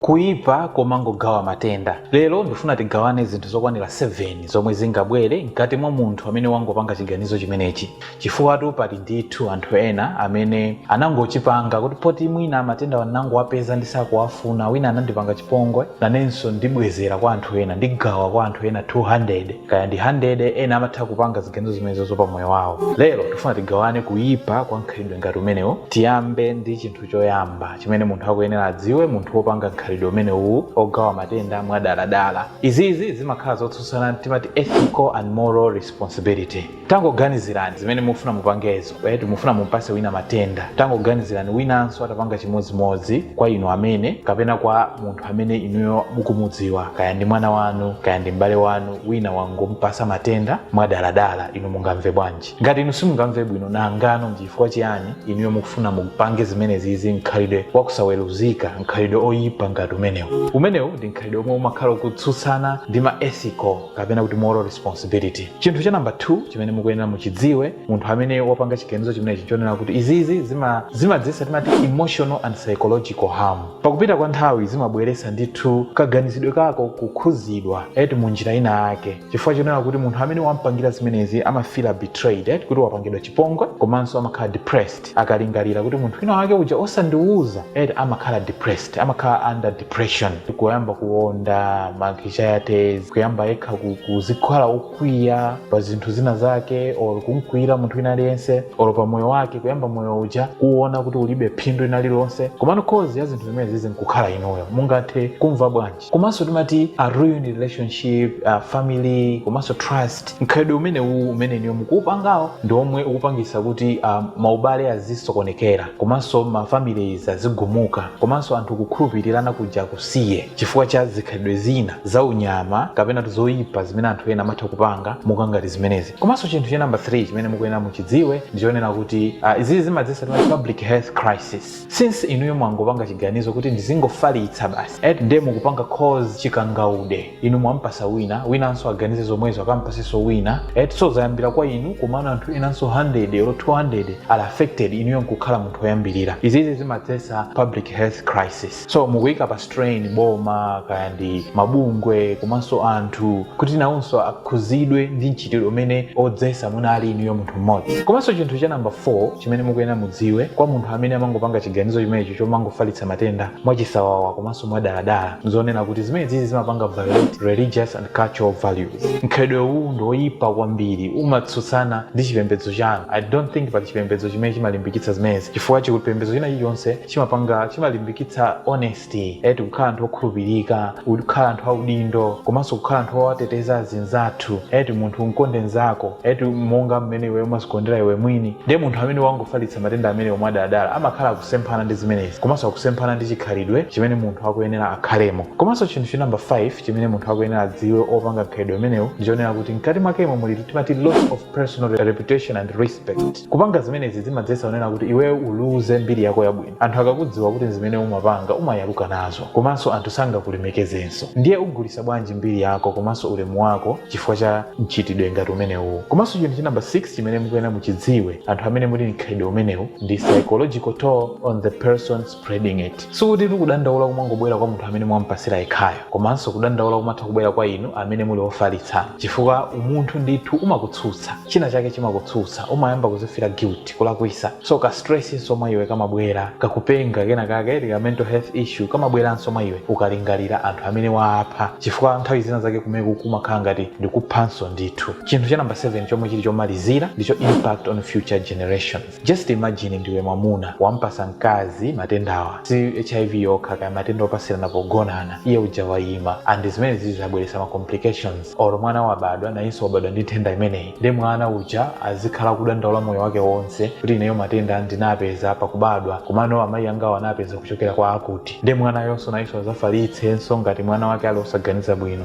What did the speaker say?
Kuipa komangogawa matenda. Lero ndifuna tigawane zinthu zokwanira 7 zomwe zingabwere mkati mwa munthu amene wangopanga chiganizo chimenechi, chifukwatu pali ndithu anthu ena amene anangochipanga kuti poti mwina matendawa ndinangowapeza ndisakuwafuna, wina anandipanga chipongwe, nanenso ndibwezera kwa anthu ena, ndigawa kwa anthu ena 200 kaya ndi 100, ena amatha kupanga ziganizo zimenezozo pa moyo wawo. Lero ndifuna tigawane kuipa kwa mkhalidwe ngati umenewu, tiyambe ndi chinthu. choyamba chimene munthu akuyenera adziwe munthu wopanga mkhalidwe umenewuwu ogawa matenda mwadaladala. Izizi zimakhala zotsutsana timati ethical and moral responsibility. Tangoganizirani zimene mufuna mupangezo eti mufuna mumpase wina matenda. Tangoganizirani winanso atapanga chimodzimodzi kwa inu amene kapena kwa munthu amene inuyo mukumudziwa kaya ndi mwana wanu kaya ndi m'bale wanu wina wangompasa matenda mwadaladala inu mungamve bwanji? ngati inu simungamve bwino nangano ndi chifukwa chiyani inuyo mukufuna mupange zimenezizi mkhalidwe wakusaweruzika mkhalidwe oyipa ngati umenewu umenewu ndi mkhalidwe omwe umakhala ukutsutsana ndi ma ethical kapena kuti moral responsibility chinthu cha namba 2 chimene mukuyenera muchidziwe munthu amene wapanga chiganizo chimenechi chonena kuti izizi zima- zimadzetsa timati emotional and psychological harm pakupita kwa nthawi zimabweresa ndithu kaganizidwe kako kukhuzidwa eti mu njira ina yake chifukwa chonena kuti munthu amene wampangira zimenezi amafila betrayed eh, kuti wapangidwa chipongwe komanso amakhala depressed akalingalira kuti munthu wina wake uja osandiwuza eh, amakhala depressed amakhala under depression kuyamba kuonda ma kilojayatezi kuyamba yekha ku- kuzikhala okwiya pa zinthu zina zake or kumkwiyira munthu wina aliyense or pa moyo wake kuyamba moyo uja kuona kuti ulibe phindu lina lililonse komano cause ya zinthu zimenezizi nkukhala inuyo mungathe kumva bwanji komanso timati a ruined relationship a family komanso trust mkhalidwe umenewu umene inuyo mukuupangawo ndi omwe ukupangisa kuti um, maubale azisokonekera komanso ma families azigumuka komanso anthu kukhulupirirana kuja kusiye chifukwa cha zikhalidwe zina za unyama kapena zoyipa zimene anthu ena amatha kupanga monga ngati zimenezi komanso chinthu cha namba 3 chimene mukuyenera muchidziwe ndi chonena kuti uh, izizi zimadzesa timati public health crisis since inuyo mwangopanga chiganizo kuti ndizingofalitsa basi eti nde mukupanga cause chikangaude inu mwampasa wina winanso aganize zomwezo akampaseso wina eti so zayambira kwa inu komano anthu enanso 100 olo 200 are affected inuyo nkukhala munthu woyambirira izizi zimadzesa public health crisis so mukuyika pa strain boma kaya ndi mabungwe komanso anthu kuti nawonso akhuzidwe ndi mchitidwe umene odzesa mwina ali inuyo munthu mmodzi komanso chinthu cha namba 4 chimene mukuyenera mudziwe kwa munthu amene amangopanga chiganizo chimenecho chomangofalitsa matenda mwachisawawa komanso mwadaladala zonena kuti zimenezi zimapanga violate religious and cultural values mkhalidwe uwu ndi woyipa kwambiri umatsutsana ndi chipembedzo chanu i don't think pali chipembedzo chimene chimalimbikitsa zimenezi chifukwa chipembedzo china chilichonse chimapanga chimalimbikitsa honesty eti kukhala anthu okhulupirika kukhala anthu audindo komanso kukhala anthu owateteza azinzathu eti munthu umkonde nzako eti monga mmene iwe umazikondera iwe mwini ndiye munthu amene amangofalitsa matenda amenewo mwadaladala amakhala akusemphana ndi zimenezi komanso akusemphana ndi chikhalidwe chimene munthu akuyenera akhalemo komanso chinthu cha namba 5 chimene munthu akuyenera adziwe opanga mkhalidwe umenewu ndi chonena kuti mkati mwakemo muli timati loss of personal reputation and respect Kupanga zimenezi zimadzetsa kunena kuti iweyo uluze mbiri yako yabwino. Anthu akakudziwa kuti n'zimene umapanga umayaluka nazo komanso anthu sangakulemekezenso. Ndiye ugulitsa bwanji mbiri yako komanso ulemu wako chifukwa cha mchitidwe ngati umenewuwu? Komanso chinthu cha number 6 chimene mukuyenera muchidziwe anthu amene muli ndi mkhalidwe umenewu ndi psychological toll on the person, spreading it sikuti kudandaula kumangobwera kwa munthu amene mwampasira yekhayo komanso kudandaula kumatha kubwera kwa inu amene muli ofalitsa chifukwa umunthu ndithu umakutsutsa china chake chimakutsutsa umayamba kuzifila guilty kulakwisa so ka stress nso mwa iwe kamabwera kakupenga kena kake tika mental health issue kamabweranso mwa iwe ukalingalira anthu amene waapha chifukwa nthawi zina zake kumeku kumakhala ngati ndikuphanso ndithu chinthu cha namba 7 chomwe chili chomalizira ndicho impact on future generations just imagine ndiwe mwamuna wampasa mkazi matendawa si hiv yokha kaya matenda opatsirana pogonana iye uja wayima and zimenezizi zabweretsa ma complications or mwana wabadwa nayenso wabadwa ndi nthenda imeneyi ndi mwana uja azikhala kudandaula moyo wake wonse kuti ineyo matenda ndinapeza pakubadwa komano amayi angawo anapeza kuchokera kwa akuti ndi mwanayonso nayenso azafalitsenso ngati mwana wake ali osaganiza bwino